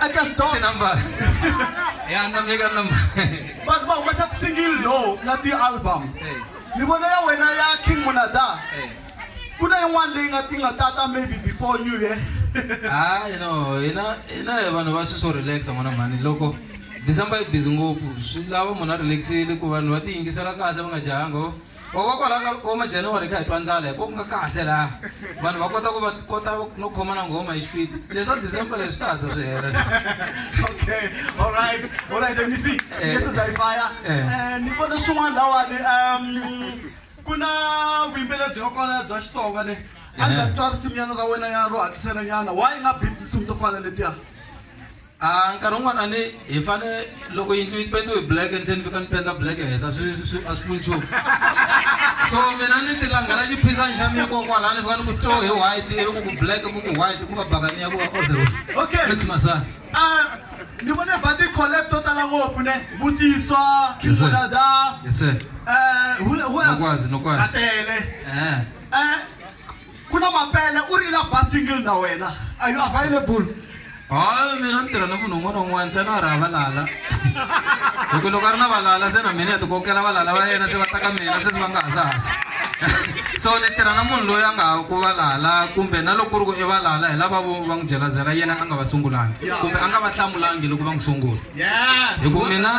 Atas dos. Number. Yan, namigan number. But ba, what's up single no, na ti albums. Hey. Ni bona ya wena ya King Munada. Hey. Kuna yin'wana leyi nga ti nga tata maybe before you yeah. ah, you know, you know, you know, vanhu va swi so relax n'wana mhani loko December yi busy ngopfu swi lava munhu a relaxile ku vanhu va tiyingisela kahle va nga jahanga Hikokwalaho ka loko ma January kha hi twa ndlala hi ku nga kahle laha vanhu va kota ku va kota no khoma na nghoma hi xipidi leswa December leswi ta hatla swi hela okay all right all right let me see eh. yes I fire eh. eh, ni vona swin'wana lawani um ku na vuyimbeleri bya kona bya Xitsonga le a ndzi twa risimu nyana ra wena ya ro hatlisela nyana why nga beat tinsimu to fana letiya A nkarhi wun'wana a ni hi fane loko yindlu yi pendiwe hi black endzeni fika ni penda black ehenhla a swi swi a swi pfuni nchumu so mina ni ti langela xiphisani xa mina kokwalani ni fika ni ku to hi white ivi ku ku black ku ku white ku va bakani ya ku va kodero Okay. mix masana Ah, ni vone va ti-collab to tala ngopfu ne vusiswa Yes, sir. kizodada yes sir um Nokwazi, Nokwazi. atele Eh, um ku na mapele u ri i la ba single na wena are you available hayi mina ni tirha ni munhu un'wana un'wana se na ri ha valala hi ku loko a ri na valala se na mina ya tikokela valala va yena se va ta ka mina se se va nga hasahasa so ni tirha na munhu loyi a nga ha ku valala kumbe na loko ku ri ku i valala hi lava vo va n'wi jelazela yena a nga va sungulangi kumbe a nga va hlamulangi loko va n'wi sungula hi ku mina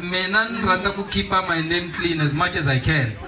mina ni rhandza ku keep-a my name clean as much as i can